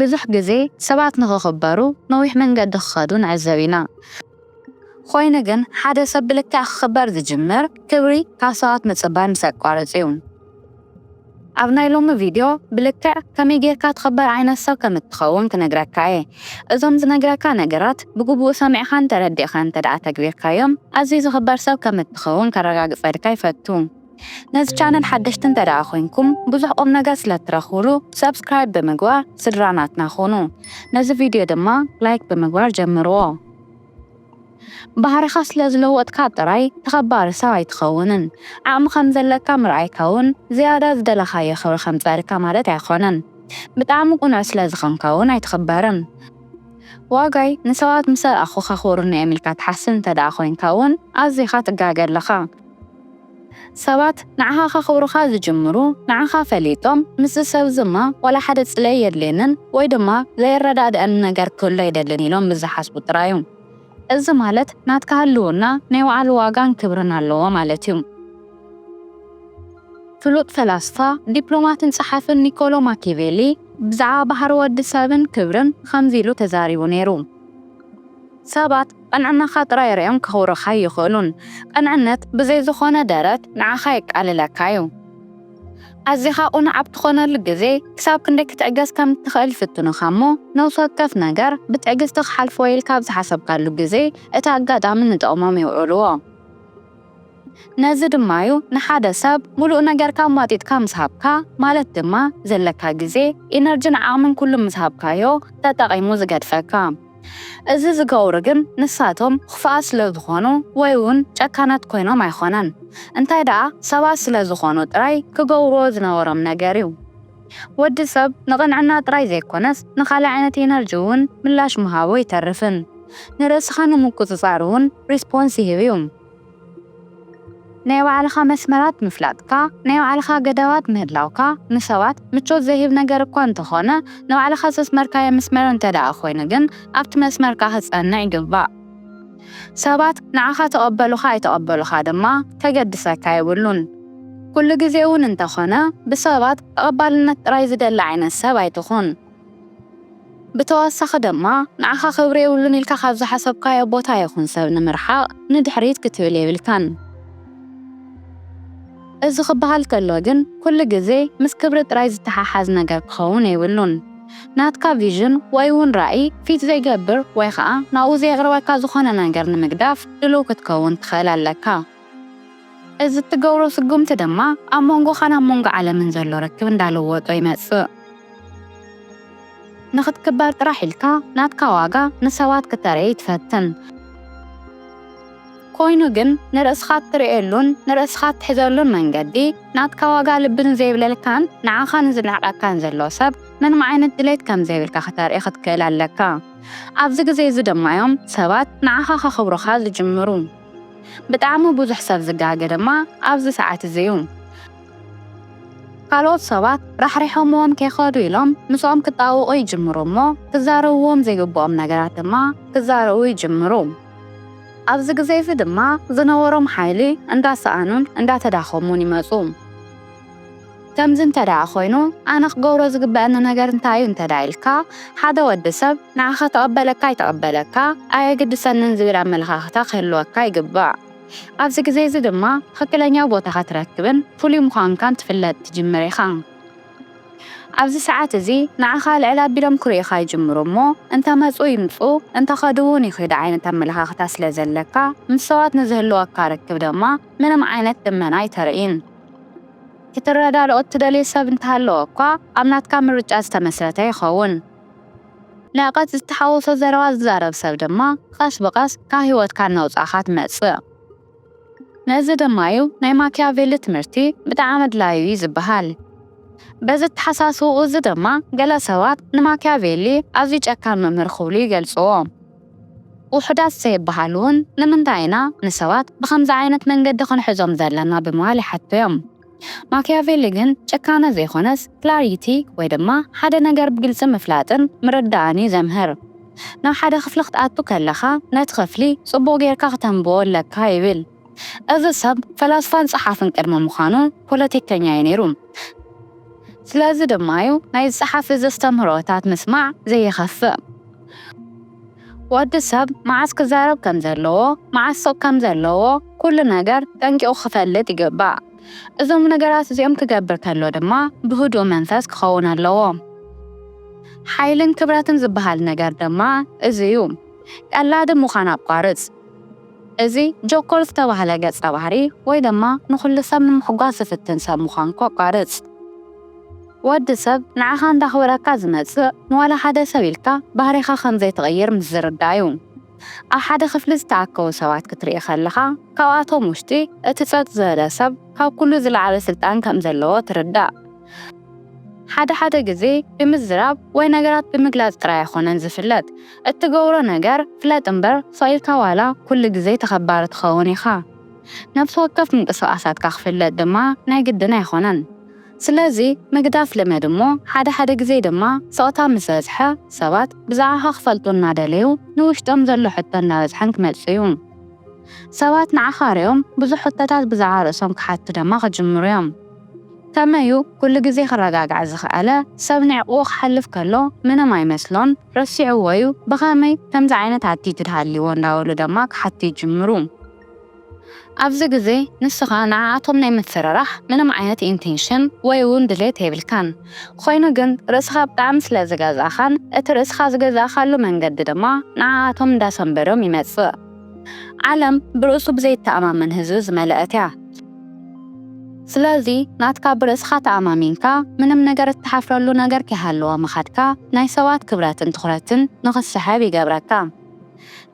ብዙሕ ግዜ ሰባት ንኽኽበሩ ነዊሕ መንገዲ ክኸዱ ንዕዘብ ኢና። ኾይኑ ግን ሓደ ሰብ ብልክዕ ክኽበር ዝጅምር ክብሪ ካብ ሰባት ምጽባይ ምስ ኣቋርጽ እዩ። ኣብ ናይ ሎሚ ቪድዮ ብልክዕ ከመይ ጌርካ ትኽበር ዓይነት ሰብ ከም እትኸውን ክነግረካ እየ። እዞም ዝነግረካ ነገራት ብግቡእ ሰሚዕኻን ተረዲእኻን እንተድኣ ተግቢርካዮም ኣዝዩ ዝኽበር ሰብ ከም እትኸውን ከረጋግጸልካ ይፈቱ። ነዚ ቻነል ሓደሽቲ እንተድኣ ኮይንኩም ብዙሕ ቁምነገር ስለትረኽብሉ subscribe ብምግባር ስድራ ናትና ኩኑ ነዚ ቪድዮ ድማ like ብምግባር ጀምርዎ። ባህርኻ ስለዝለወጥካ ጥራይ ተኸባሪ ሰብ ኣይትኸውንን ዓቕሚ ከምዘለካ ምርኣይካ ውን ዝያዳ ዝደለኻዮ ክብሪ ከምጸኣልካ ማለት ኣይኾነን ብጣዕሚ ቁኑዕ ስለዝኾንካ ውን ኣይትኽበርን ዋጋይ ንሰባት ምሰ ረኣኹ ከኽብሩኒ እዮም ኢልካ ትሓስብ እንተድኣ ኮይንካ ውን ኣዚኻ ትጋገ ኣለኻ። ሰባት ንዓኻ ከኽብሩኻ ዝጅምሩ ንዓኻ ፈሊጦም ምስዚ ሰብዚ እማ ዋላ ሓደ ጽልኢ የድልየንን ወይ ድማ ዘየረዳድኣኒ ነገር ክህሉ ኣይደልን ኢሎም ምስ ዝሓስቡ ጥራይ እዩ። እዚ ማለት ናትካ ህልውና ናይ ባዕሉ ዋጋን ክብርን ኣለዎ ማለት እዩ። ፍሉጥ ፈላስፋ፣ ዲፕሎማትን ጸሓፍን ኒኮሎ ማኪቬሊ ብዛዕባ ባህሪ ወዲ ሰብን ክብርን ኸምዚ ኢሉ ተዛሪቡ ነይሩ፣ ሰባት፣ ቕንዕናኻ ጥራይ ሪኦም ከኽብሩኻ ኣይኽእሉን። ቕንዕነት ብዘይ ዝኾነ ደረት ንዓኻ የቃልለካ'ዩ። ኣዚኻ ቕኑዕ ኣብ ትኾነሉ ግዜ ክሳብ ክንደይ ክትዕገስ ከም እትኽእል ይፍትኑኻ'ሞ፣ ነብሲ ወከፍ ነገር ብትዕግስቲ ክሓልፎ'የ ኢልካ ኣብ ዝሓሰብካሉ ግዜ እቲ ኣጋጣሚ ንጥቕሞም የውዕልዎ። ነዚ ድማ እዩ ንሓደ ሰብ ሙሉእ ነገርካ ኣሟጢጥካ ምስ ሃብካ ማለት ድማ ዘለካ ግዜ፣ ኢነርጅን ዓቕምን ኩሉ ምስ ሃብካዮ ተጠቒሙ ዝገድፈካ። እዚ ዝገብሩ ግን ንሳቶም ኽፉኣት ስለ ዝኾኑ ወይ ውን ጨካናት ኮይኖም ኣይኾነን እንታይ ደኣ ሰባት ስለ ዝኾኑ ጥራይ ክገብርዎ ዝነበሮም ነገር እዩ። ወዲ ሰብ ንቕንዕና ጥራይ ዘይኰነስ ንኻልእ ዓይነት ኤነርጂ እውን ምላሽ ምሃቡ ኣይተርፍን። ንርእስኻ ንምቍጽጻር እውን ሪስፖንስ ይህብ እዩ። ናይ ባዕልኻ መስመራት ምፍላጥካ፣ ናይ ባዕልኻ ገደባት ምህላውካ፣ ንሰባት ምቾት ዘይህብ ነገር እኳ እንተዀነ፣ ንባዕልኻ ዘስመርካዮ መስመር እንተድኣ ኰይኑ ግን ኣብቲ መስመርካ ክትጸንዕ ይግባእ። ሰባት ንዓኻ ተቐበሉኻ ኣይተቐበሉኻ ድማ ከገድሰካ የብሉን። ኩሉ ግዜ እውን እንተኾነ ብሰባት ተቐባልነት ጥራይ ዝደሊ ዓይነት ሰብ ኣይትኹን። ብተወሳኺ ድማ ንዓኻ ክብሪ የብሉን ኢልካ ካብ ዝሓሰብካዮ ቦታ ይኹን ሰብ ንምርሓቕ ንድሕሪት ክትብል የብልካን። እዚ ክበሃል ከሎ ግን ኩሉ ግዜ ምስ ክብሪ ጥራይ ዝተሓሓዝ ነገር ክኸውን የብሉን። ናትካ ቪዥን ወይ'ውን ራኢ ፊት ዘይገብር ወይ ኸኣ ናብኡ ዘየቕርበካ ዝኾነ ነገር ንምግዳፍ ድሉው ክትከውን ትኽእል ኣለካ። እዚ እትገብሮ ስጉምቲ ድማ ኣብ መንጎኻን ኣብ መንጎ ዓለምን ዘሎ ርክብ እንዳለወጦ ይመጽእ። ንኽትክበር ጥራሕ ኢልካ ናትካ ዋጋ ንሰባት ክተርኢ ትፈትን። ኮይኑ ግን ንርእስኻ እትርእየሉን ንርእስኻ እትሕዘሉን መንገዲ ናትካ ዋጋ ልቢ ንዘይብለልካን ንዓኻ ንዝንዕቀካን ዘሎ ሰብ ምንም ዓይነት ድሌት ከም ዘይብልካ ከተርኢ ክትክእል ኣለካ። ኣብዚ ግዜ እዚ ድማ እዮም ሰባት ንዓኻ ከኽብሩኻ ዝጅምሩ። ብጣዕሚ ብዙሕ ሰብ ዝጋገ ድማ ኣብዚ ሰዓት እዚ እዩ። ካልኦት ሰባት ራሕሪሖምዎም ከይኸዱ ኢሎም ምስኦም ክጣበቑ ይጅምሩ እሞ ክዛረብዎም ዘይግብኦም ነገራት ድማ ክዛረቡ ይጅምሩ። ኣብዚ ግዜ እዚ ድማ ዝነበሮም ሓይሊ እንዳሰኣኑን እንዳተዳኸሙን ይመጹ። ከምዚ እንተድኣ ኮይኑ ኣነ ክገብሮ ዝግበኣኒ ነገር እንታይ እዩ እንተድኣ ኢልካ ሓደ ወዲ ሰብ ንዓኻ ተቐበለካ ኣይተቐበለካ ኣየግድሰንን ዝብል ኣመለኻኽታ ክህልወካ ይግባእ። ኣብዚ ግዜ እዚ ድማ ትኽክለኛ ቦታኻ ትረክብን ፍሉይ ምዃንካን ትፍለጥ ትጅምር ኢኻ። ኣብዚ ሰዓት እዚ ንዓኻ ልዕል ኣቢሎም ክርእዩኻ ይጅምሩ እሞ እንተ መጹ ይምጹ እንተ ከዱ ውን ይኺዱ ዓይነት ኣመለኻኽታ ስለ ዘለካ ምስ ሰባት ንዝህልወካ ርክብ ደማ ምንም ዓይነት ልመና ኣይተርእይን ክትረዳድኦ እትደልዮ ሰብ እንተሃለወ እኳ ኣብ ናትካ ምርጫ ዝተመስረተ ይኸውን። ንዕቀት ዝተሓወሶ ዘረባ ዝዛረብ ሰብ ድማ ቐስ ብቐስ ካብ ሂወትካ እናውጻእኻ ትመጽእ። ነዚ ድማ'ዩ ናይ ማኪያቬሊ ትምህርቲ ብጣዕሚ ኣድላዪ'ዩ ዝበሃል። በዚ ኣተሓሳስባኡ'ዚ ድማ ገለ ሰባት ንማኪያቬሊ ኣዝዩ ጨካን መምህር ክብሉ ይገልጽዎ። ውሑዳት ዘይበሃሉ'ውን ንምንታይ ኢና ንሰባት ብኸምዚ ዓይነት መንገዲ ክንሕዞም ዘለና ብምባል ይሓቱ'ዮም። ማክያቬሊ ግን ጭካነ ዘይኮነስ ክላሪቲ ወይ ድማ ሓደ ነገር ብግልጺ ምፍላጥን ምርዳእን እዩ ዘምህር። ናብ ሓደ ክፍሊ ክትኣቱ ከለኻ ነቲ ክፍሊ ጽቡቕ ጌርካ ክተንብቦ ኣለካ ይብል። እዚ ሰብ ፈላስፋን ጸሓፍን ቅድሚ ምዃኑ ፖለቲከኛ እዩ ነይሩ። ስለዚ ድማ'ዩ ናይዚ ጸሓፊ እዚ ኣስተምህሮታት ምስማዕ ዘይኸፍእ። ወዲ ሰብ መዓስ ክዛረብ ከም ዘለዎ፣ መዓስ ስቕ ከም ዘለዎ ኩሉ ነገር ጠንቂቑ ክፈልጥ ይግባእ። እዞም ነገራት እዚኦም ክገብር ከሎ ድማ ብህዱእ መንፈስ ክኸውን ኣለዎ። ሓይልን ክብረትን ዝበሃል ነገር ድማ እዚ እዩ። ቀላዲ ምዃን ኣቋርጽ። እዚ ጆኮር ዝተባህለ ገጸ ባህሪ ወይ ድማ ንኹሉ ሰብ ንምሕጓስ ዝፍትን ሰብ ምዃንኩ ኣቋርጽ። ወዲ ሰብ ንዓኻ እንዳኽበረካ ዝመጽእ ንዋላ ሓደ ሰብ ኢልካ ባህሪኻ ከም ዘይትቕይር ምስ ዝርዳእ'ዩ። ኣብ ሓደ ክፍሊ ዝተኣከቡ ሰባት ክትርኢ ከለኻ ካብኣቶም ውሽጢ እቲ ጸጥ ዝበለ ሰብ ካብ ኩሉ ዝለዓለ ስልጣን ከም ዘለዎ ትርዳእ። ሓደ ሓደ ግዜ ብምዝራብ ወይ ነገራት ብምግላጽ ጥራይ ኣይኮነን ዝፍለጥ እትገብሮ ነገር ፍለጥ እምበር ስቕ ኢልካ ዋላ ኩሉ ግዜ ተኸባሪ ትኸውን ኢኻ። ነፍሲ ወከፍ ምንቅስቓሳትካ ክፍለጥ ድማ ናይ ግድን ኣይኮነን። ስለዚ ምግዳፍ ልመድ እሞ ሓደ ሓደ ግዜ ድማ ስቕታ ምስ በዝሐ ሰባት ብዛዕኻ ክፈልጡ እናደለዩ ንውሽጦም ዘሎ ሕቶ እናበዝሐን ክመጽእ እዩ። ሰባት ንዓኻ ሪኦም ብዙሕ ሕቶታት ብዛዕባ ርእሶም ክሓቱ ደማ ክጅምሩ እዮም። ከመይ እዩ ኩሉ ግዜ ክረጋጋዕ ዝኸኣለ? ሰብ ንዕቕኡ ክሓልፍ ከሎ ምንም ኣይመስሎን ረሲዕዎ እዩ ብኸመይ ከምዚ ዓይነት ኣቲቱድ ሃልይዎ እንዳበሉ ደማ ክሓቱ ይጅምሩ። ኣብዚ ግዜ ንስኻ ንዓኣቶም ናይ ምፍርራሕ ምንም ዓይነት ኢንቴንሽን ወይ ውን ድሌት የብልካን። ኾይኑ ግን ርእስኻ ብጣዕሚ ስለ ዝገዛእኻን እቲ ርእስኻ ዝገዛእኻሉ መንገዲ ድማ ንዓኣቶም እንዳሰምበዶም ይመጽእ። ዓለም ብርእሱ ብዘይተኣማመን ህዝቢ ዝመለኣት እያ። ስለዚ ናትካ ብርእስኻ ተኣማሚንካ ምንም ነገር እትሓፍረሉ ነገር ከይሃለወ ምኻድካ ናይ ሰባት ክብረትን ትኹረትን ንኽትስሕብ ይገብረካ።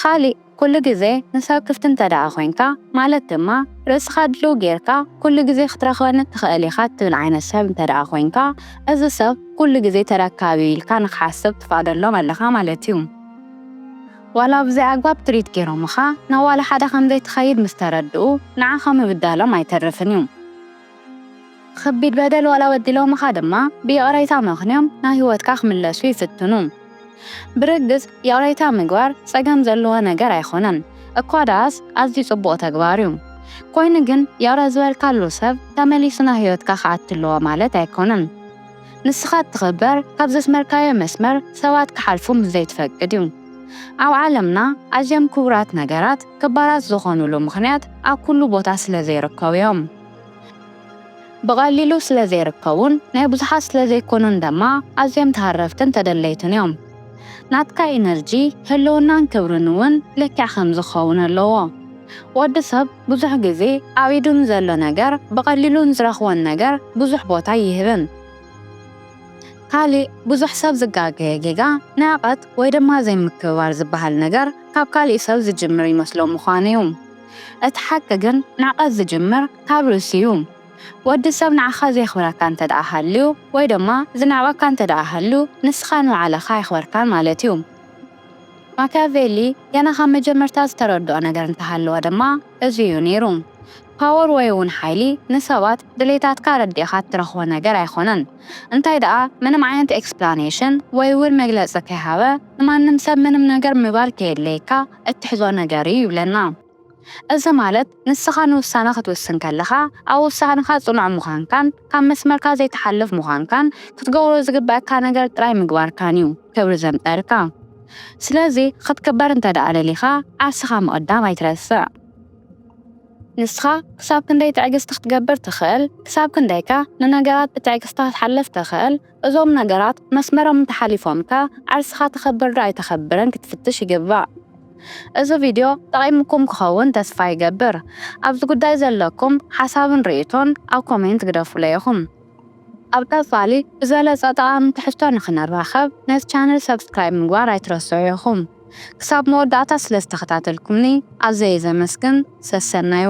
ኻሊእ። ኩሉ ግዜ ንሰብ ክፍቲ እንተድኣ ኮይንካ፣ ማለት ድማ ርእስኻ ድልው ጌርካ ኩሉ ግዜ ክትረኽበኒ እትኽእል ኢኻ እትብል ዓይነት ሰብ እንተድኣ ኮይንካ፣ እዚ ሰብ ኩሉ ግዜ ተረካቢ'ዩ ኢልካ ንኽሓስብ ትፈቕደሎም ኣለኻ ማለት'ዩ። ዋላ ብዘይኣግባብ ትሪት ጌሮምኻ ናብ ዋላ ሓደ ከምዘይትኸይድ ምስ ተረድኡ ንዓኻ ምብዳሎም ኣይተርፍን'ዩ። ኸቢድ በደል ዋላ በዲሎምኻ ድማ ብይቕሬታ መኽንዮም ናብ ህይወትካ ክምለሱ ይፍትኑ። ብርግጽ ይቕሬታ ምግባር ጸገም ዘለዎ ነገር ኣይኮነን እኳ ደኣስ ኣዝዩ ጽቡቕ ተግባር እዩ። ኮይኑ ግን ይቕረ ዝበልካሉ ሰብ ተመሊሱ ናብ ህይወትካ ክኣቲ ኣለዎ ማለት ኣይኮነን። ንስኻ እትኽበር ካብ ዘስመርካዮ መስመር ሰባት ክሓልፉ ምስ ዘይትፈቅድ እዩ። ኣብ ዓለምና ኣዝዮም ክቡራት ነገራት ክባራት ዝኾኑሉ ምኽንያት ኣብ ኩሉ ቦታ ስለ ዘይርከቡ እዮም። ብቐሊሉ ስለ ዘይርከቡን ናይ ብዙሓት ስለ ዘይኮኑን ደማ ኣዝዮም ተሃረፍትን ተደለይትን እዮም። ናትካ ኢነርጂ፣ ህልውናን ክብርን እውን ልክዕ ከምዚ ክኸውን ኣለዎ። ወዲ ሰብ ብዙሕ ግዜ ኣብ ኢዱ ንዘሎ ነገር ብቐሊሉ ንዝረኽቦን ነገር ብዙሕ ቦታ ኣይህብን። ካሊእ ብዙሕ ሰብ ዝጋገዮ ጌጋ ንዕቀት ወይ ድማ ዘይምክብባር ዝበሃል ነገር ካብ ካሊእ ሰብ ዝጅምር ይመስሎ ምዃኑ ዩ። እቲ ሓቂ ግን ንዕቀት ዝጅምር ካብ ርእሱ ዩ። ወዲ ሰብ ንዓኻ ዘየኽብረካ እንተድኣ ሃልዩ ወይ ድማ ዝንዕቀካ እንተድኣ ሃልዩ ንስኻ ንባዕልኻ ኣየኽበርካን ማለት ዩ። ማክያቬሊ ገና ካብ መጀመርታ ዝተረድኦ ነገር እንተሃለወ ድማ እዚ እዩ ነይሩ። ፓወር ወይ'ውን ሓይሊ ንሰባት ድሌታትካ ኣረዲእኻ እትረኽቦ ነገር ኣይኮነን። እንታይ ደኣ ምንም ዓይነት ኤክስፕላነሽን ወይ'ውን መግለጺ ከይሃበ ንማንም ሰብ ምንም ነገር ምባል ከየድለየካ እትሕዞ ነገር እዩ ይብለና። እዚ ማለት ንስኻ ንውሳነ ክትውስን ከለኻ ኣብ ውሳነኻ ጽኑዕ ምዃንካን ካብ መስመርካ ዘይትሓልፍ ምዃንካን ክትገብሮ ዝግበኣካ ነገር ጥራይ ምግባርካን እዩ ክብሪ ዘምጸኣልካ። ስለዚ ክትክበር እንተድኣ ደሊኻ ዓርስኻ ምቕዳም ኣይትረስዕ። ንስኻ ክሳብ ክንደይ ትዕግስቲ ክትገብር ትኽእል፣ ክሳብ ክንደይከ ንነገራት ብትዕግስቲ ክትሓልፍ ትኽእል? እዞም ነገራት መስመሮም እንተሓሊፎምከ ዓርስኻ ተኸብር ዶ ኣይተኸብርን ክትፍትሽ ይግባእ። እዚ ቪድዮ ጠቒሙኩም ክኸውን ተስፋ ይገብር። ኣብዚ ጉዳይ ዘለኩም ሓሳብን ርእይቶን ኣብ ኮሜንት ግደፉለይ ኢኹም። ኣብ ቀጻሊ ብዝበለጸ ጠቓሚ ትሕዝቶ ንኽንራኸብ ነዚ ቻነል ሰብስክራይብ ምግባር ኣይትረስዑ ኢኹም። ክሳብ መወዳእታ ስለዝተኸታተልኩምኒ ኣዘየ ዘመስግን። ሰሰናዩ።